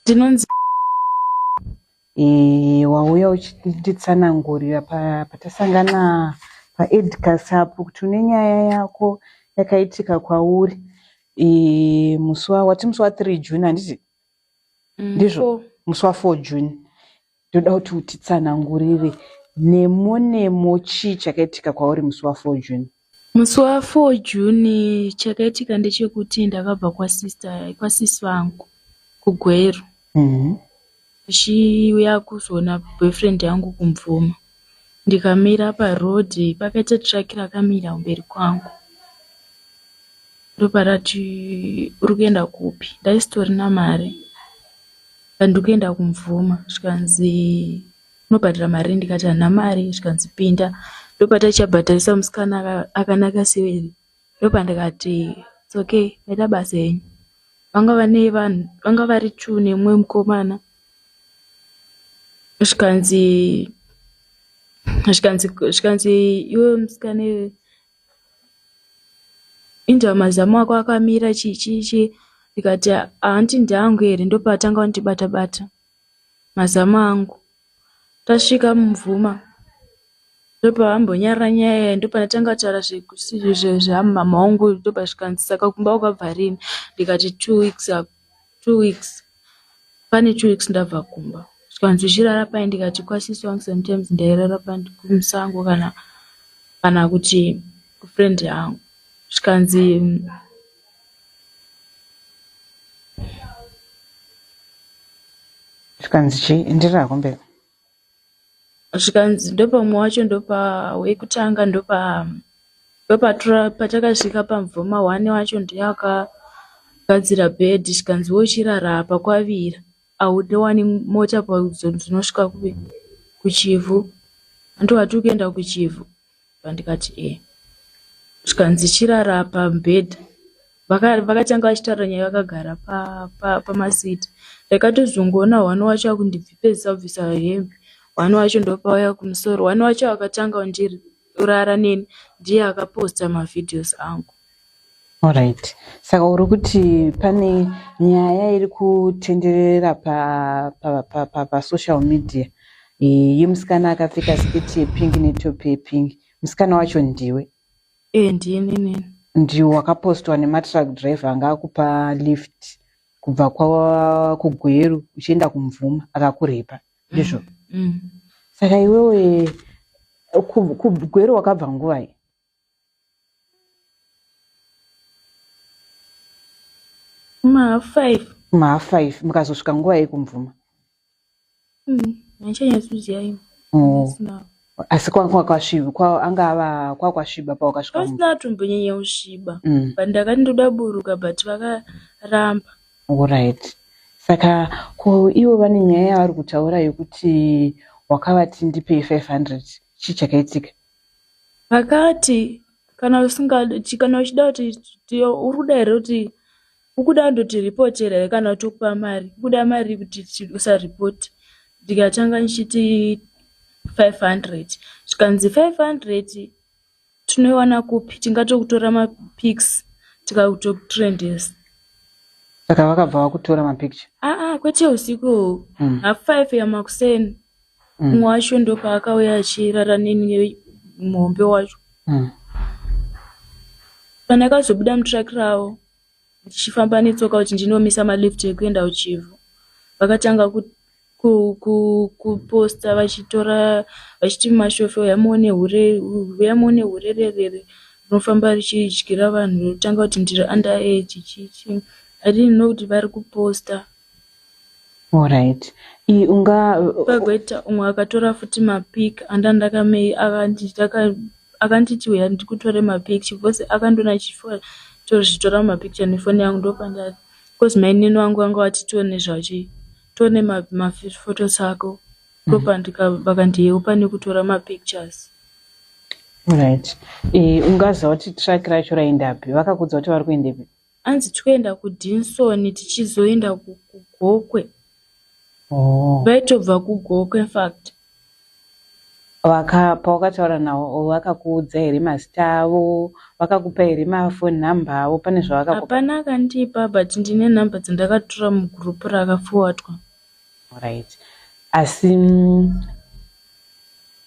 ndinonzi Eh, wauya uchinditsanangurira pa- patasangana paedcas apo kuti une nyaya yako yakaitika kwauri Eh, musi wa- wati musi wa 3 june handiti ndizvo musi wa 4 june ndoda kuti utitsanangurire nemo nemo chii chakaitika kwauri musi wa 4 june musi wa 4 june chakaitika ndechekuti ndakabva kwasister kwasisi vangu kugweru mm -hmm. ndichiuya kuzoona boyfriend yangu kumvuma ndikamira paroad pakaita truck rakamira kumberi kwangu ndoparati uri kuenda kupi ndaisitorina mari ndandikuenda kumvuma zvikanzi unobhadhara mari ndikati hana mari zvikanzi pinda ndopataichabhadharisa musikana akanaka severi ndopandikati it's okay ita basa henyu vanga vane vanhu vanga vari two nemumwe mukomana zvikanzi zvikanzi zvikanzi iwe musikana iwe inzva mazamu ako akamira chii chii chii ndikati hanti ndangu here ndopatanga kundibata bata mazamu angu tasvika mumvuma ndopavambonyarara nyaya yayi ndopanatanga kutaura zveamumama wangu uyu ndopazvikanzi saka kumba wakabva rini ndikati two weeks ago two weeks pane two weeks ndabva kumba zvikanzi uchirara pai ndikati kwasisi wangu sometimes ndairara kumusango kana kana kuti kufriend yangu zvikanzi zvikanzi chii enderera hako mberi zvikanzi ndopamwe wacho ndopa wekutanga ndopa ndopatura patakasvika pamvoma one wacho ndiye akagadzira bed zvikanzi wochirara apa kwavira haudewani mota pazodzinosvika kuchivhu andiwati ukuenda kuchivhu pandikati e zvikanzi chirara pamubhedha vakatanga vachitaura nyaya vakagara pamasiti ndakatozongoona hwani wacho akundibvipezisa kubvisa hembe hwani wacho ndopauya kumusoro hwani wacho akatanga undirara neni ndiye akaposta mavhidhios angu Alright. Saka uri kuti pane nyaya iri kutenderera pa pa pa pa, pa social media yemusikana akapfeka sketi yepingi netop yepingi. Musikana wacho ndiwe? Eh, ndini nini. Ndiwe wakapostwa nematruck driver anga akupa lift kubva kwa kuGweru uchienda kuMvuma akakurepa. Ndizvo. Mm. mm. Saka iwewe kuGweru wakabva nguvai? mahalf five mahalf five mukazosvika nguva yei kumvuma haichanyatsoziva mm, imo asi kwakwasviba kwa anga ava kwakwasviba pawakasvika pasina atombonyanya kusviba mm. but ndakati ndoda buruka but vakaramba orit saka ko ivo vane nyaya yavari kutaura yekuti wakavati ndipei 500 chii chakaitika Akati kana usingadi kuti kana uchida kuti tiyo uri kuda here kuti ukuda ndotiripotera here kana tokupa mari ukuda mari kuti usaripoti ndikatanga ndichiti 500 zvikanzi 500 tinoiwana kupi tingatokutora mapics tikakutokutrendesa saka vakabva vakutora mapicture aa ah, ah, kwete usiku hmm. half five yamakuseni mm. umwe wacho ndopaakauya achirara neni muhombe wacho mm. pandakazobuda mutrak ravo ndichifamba netsoka kuti ndinomisa malift ekuenda kuchivhu vakatanga kuposta vachitora vachiti mashofe uyamuone hure uyamuone hurererere rinofamba richidyira vanhu rotanga kuti ndiri under age chichi adinno kuti vari kuposta Alright. I unga Pagweta umwe akatora futi mapic anda ndakamei akanti taka akanditi uya ndikutore mapicture because akandona chifo tozvitora mapicture nefoni yangu ndopandati because mainini wangu vanga vati tione zvachi tione maphotos ma ako ndopandika mm. vakandiyeu pane kutora mapictures right e, ungaziva kuti track racho raendapi vakakudza kuti vari kuendepi Hanzi tikuenda kuDinson tichizoenda kuGokwe. Oh. Vaitobva kuGokwe in fact. Vaka pawakataura nawo vakakuudza here mazita avo? Vakakupa here mafoni number avo? Pane zvavakakupa? Hapana akandipa but ndine number dzandakatora mugroup rakaforwardwa. Alright. Asi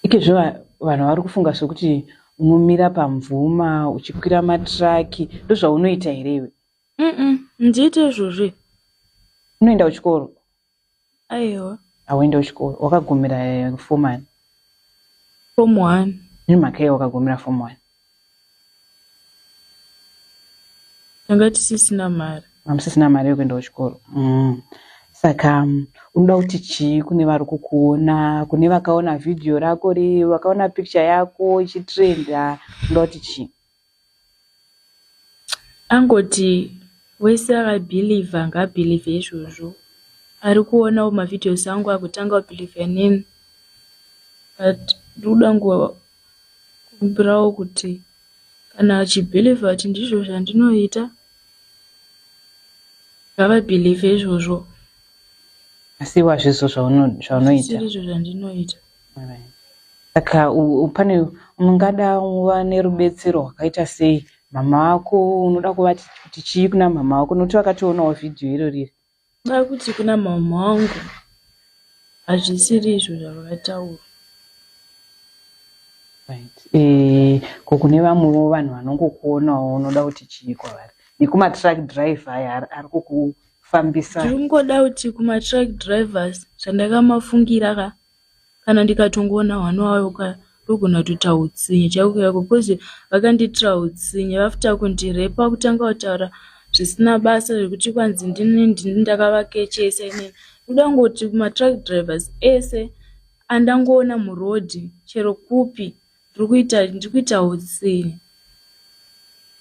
ikezvo vanhu vari kufunga sokuti unomira pamvuma uchikwira matiraki ndozvaunoita here iwe? Mm ndiite izvozvo. Unoenda kuchikoro? Aiwa. Hauenda kuchikoro. Wakagumira eh, form one? Form one. Nemhaka yei wakagumira form one? tanga tisisina mari amusisina mari yokuenda kuchikoro mm. saka mm, unoda kuti chii kune vari kukuona kune vakaona vhidhiyo rako ri vakaona picture yako ichitrenda unoda kuti chii angoti wese akabhilivha ngaabhilivhe izvozvo ari kuonawo mavhidhios angu akutanga kubhilivha inini but ndikuda Kumbirawo kuti kana achibhilivha kuti ndizvo zvandinoita ngavabhilivhe izvozvo asi iwe hazvizvo zvaunoita izvo zvandinoita saka pane ungada uva nerubetsero rwakaita sei mama vako unoda kuvati kuti chii kuna mama vako nokuti vakationawo vhidhiyo iro riri Kuda kuti kuna mama wangu hazvisiri izvo zvavakataura. Right. Eh, ko kune vamwewo vanhu vanongokuonawo unoda kuti chii kwavari nekumatruck driver aya ari kukufambisa ndiri kungoda kuti kumatruck drivers zvandakamafungira ka kana ndikatongoona hwana wayo ka ndogona kutoita utsinye chaiko chaiko bcause vakandiitira utsinye vafta kundirepa kutanga kutaura zvisina basa zvekuti kwanzi ndini ndini ndakavakechesa inini ndoda kungoti kumatruck drivers ese andangoona muroad chero kupi ndiri kuita ndiri kuita utsiri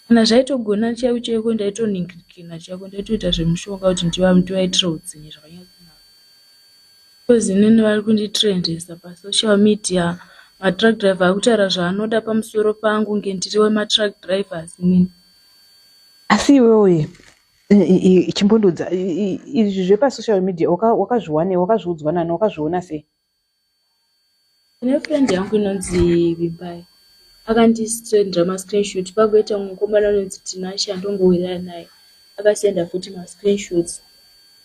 kana zvaitogona chaiko chaiko ndaitoningirikina chaiko ndaitoita zvemushonga kuti ndivaitire utsinye zvakanyatsinaa because inini vari kunditrendesa pasocial media matruck driver akutaura zvaanoda pamusoro pangu nge ndiri wematruck drivers inini asi iwewe chimbondodza izvi zvepasocial media wakazviwanewo wakazviudzwa nani wakazviona sei Kune friend yangu inonzi Vimbai akandisendera mascreenshot pakuita mukomana anonzi Tinashe andongowirira naye akasenda futi mascreenshots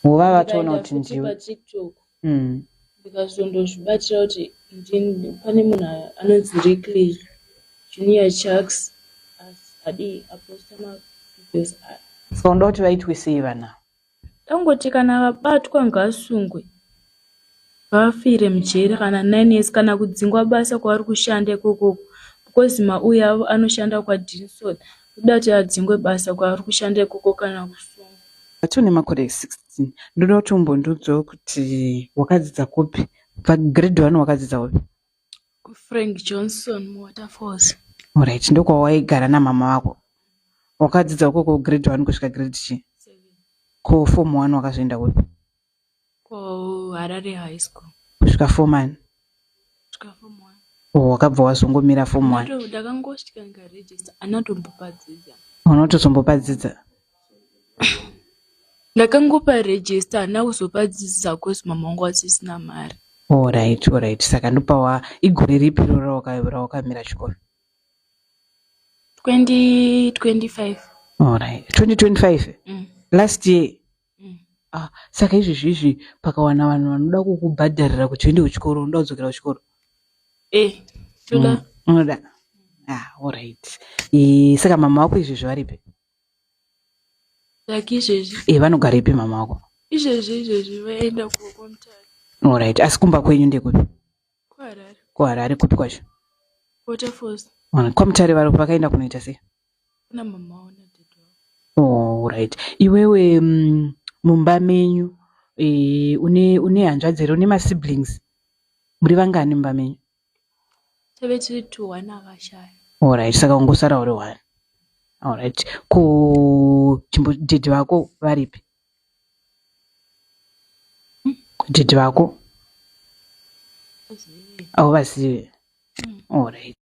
nguva vatoona kuti ndiwe TikTok mm. ndikazondozvibatira kuti pane munhu anonzi Rickley Junior Chucks adii aposta mavideos aya so ndokuti vaitwisei vana Tangoti kana vabatwa ngasungwe vafire mujeri kana nine years kana kudzingwa basa kwavari kushanda ikokoko because mauyi avo anoshanda kwadinson kuda kuti adzingwe basa kwavari kushanda ikoko kana kusungwa but une makore 16 ndoda kuti umbondiudzawo kuti wakadzidza kupi pagrade one wakadzidza upi kufrank johnson muwaterfalls Alright, ndokwawaigara namama vako. Wakadzidza uko ku grade 1 kusvika grade chi. Ko form 1 wakazoenda kupi? ko harare high school Kusvika form 1. kusvika form one Oh, wakabva wazongomira form 1. Ndato- ndakangosvika ndikaregister anatombopa dzidza Unotozombopa dzidza. ndakangopa register handina kuzopa dzidzo zakosi mama wangu asisina mari orit orit saka ndopawa igore ripi roro rawakamira chikoro 2025 orit 2025 mm. last year mm. ah, saka izvi zviizvi pakawana vanhu vanoda kukubhadharira kuti uende kuchikoro unoda kudzokera kuchikoro eh, toda mm. unoda ah, orit e, saka mama wako izvi zvivaripi like izvezvi e vanogarepi mama wako izvezvi izvezvi vaenda kukomtari olright asi kumba kwenyu ndekupi kuharare kuharare kupi kwacho waterfalls komtari vari vakaenda kunoita sei kuna mama wao olright oh, iwewe mm, mumba menyu e, une une hanzvadzi here une masiblings muri vangani mumba menyu tave tiri two one akashaya orit saka ungosara uri one orit ku chimbodhidhi vako varipi hmm? dhidhi vako auvazive hmm. orit